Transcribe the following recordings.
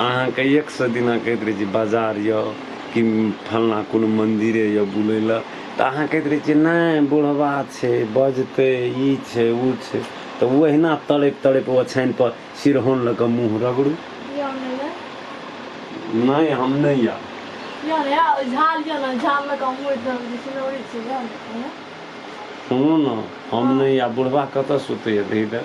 अहाँके एक सए दिना कहैत रहै छी बाजार यऽ कि फलना कोनो मन्दिरे यऽ बुलै लए तऽ अहाँ कहैत रहै छियै नहि बुढ़बा छै बजतै ई छै ओ छै तऽ ओहिना तड़ैप तड़ैप ओछानि पर सिरहोन लऽ कऽ मुँह रगड़ू नहि हम नहि या सुनू ने हम नहि या बुढ़बा कतऽ सुतैया दही दऽ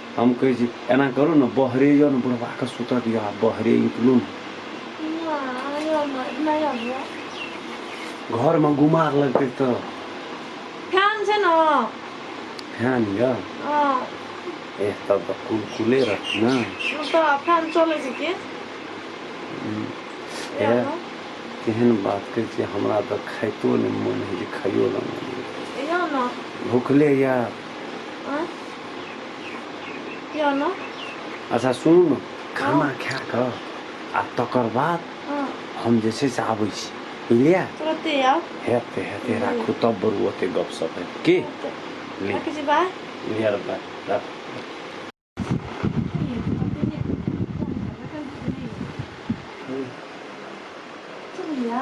हम कहै छी एना करू ने बहरे यौ ने बुढ़बा के सुतऽ दियौ आ बहरे निकलू ने घर में गुमार लगते तो फैन छै ने फैन यऽ एह तब तऽ कुलकुले रहत ने तऽ फैन चलै छै की एह केहन बात कहै छियै हमरा तऽ खाइतो नहि मोन होइ छै खाइयो लए मोन होइ छै। भुखले यऽ यो न अच्छा सुनू ने खाना खा कऽ आ तकर बाद हँ हम जे छै से आबै छी बुझलियै तुरते आउ हेतै हेतै राखू तब बरू ओते गपशप हेतै की ले राखै छी बाय लिअ रे बाय, राखू चलिया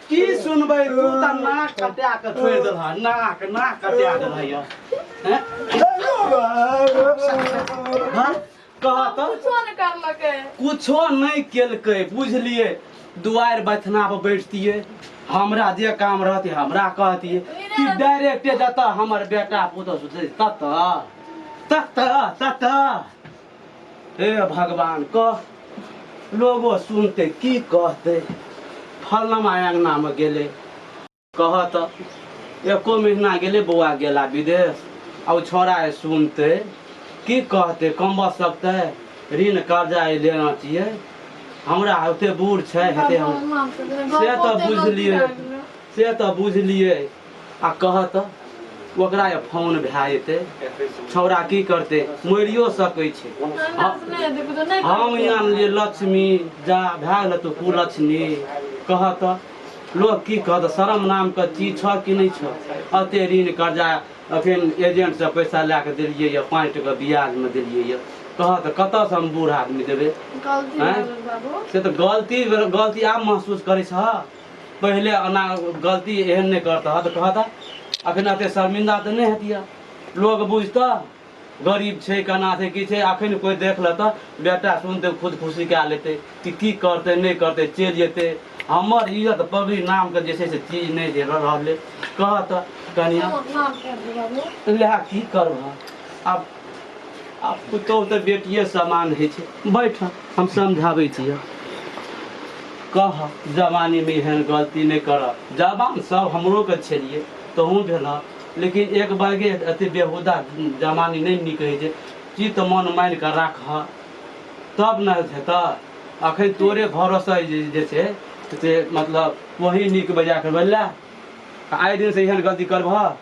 की सुनबै तू तऽ नाक कटा कऽ छोड़ि देलह नाक नाक कटा देलह यऽ हैं? हाँ? कह तऽ कुछो नहि करलकै कुछो नहि केलकै बुझलिए दुआरि बथना पर बैठतिए हमरा जे काम रहते हमरा कहतिए कि डायरेक्टे जतऽ हमर बेटा पुतहु सुतै ततऽ ततऽ ततऽ हे भगवान कह लोगो सुनते की कहते फलनमा अंगना में गेले कह तो एको महीना गेले बौआ गेला विदेश आ छोरा सुनते की कहते कम बस सकते ऋण कर्जा लेना चाहिए हमरा होते बूढ़ छै हेते हम से तो बुझलिए से तो बुझलिए आ कहऽ तँ, ओकरा ए फौन भए जेतै। छौड़ा की करतै? मरियो सकै छै। हम इयाम जे लछमी, जा, भए गेलह तू कुलछमी। कहऽ तँ, लोक की कहत? शरम नामक चीज छह कि नहि छह? एते ऋण-करजा एखन एजेंटसँ पैसा लए कऽ देलियै यए। पाँच टका ब्याजमे देलियै यए। कहऽ तँ, कतयसँ हम बूढ़ आदमी देबै? गलती भए गेल बाबू। से तँ गलती भेलौ। गलती आब महसूस करै छह? पहिले ओना गलती एहन नहि करतह तऽ कहतह अखन एते शर्मिंदा तऽ नहि हेतिया लोग बुझतह गरीब छै केना छै की छै अखन कोइ देख लेतह बेटा सुनतै खुद खुशी कए लेतै कि की करतै नहि करतै चलि जेतै हमर इज्जत पगड़ी नामके जे छै से चीज नहि जे रह- रहलै कहतह कनिया लए की करबह आब आ पुतोह तऽ बेटिए समान होइ छै बैठ हम समझाबै छी कह जवानीमे एहन गलती नहि करऽ जवान सब हमरोके छलिए तहूँ भेलऽ लेकिन एक बागे अथी बेहुदा जवानी नहि नीक होइ छै चित मन मानि कऽ राखऽ तब ने हेतऽ अखन तोरे घरसँ जे जे छै से मतलब वही नीक बजा कऽ भेलै आइ दिनसँ एहन गलती करबह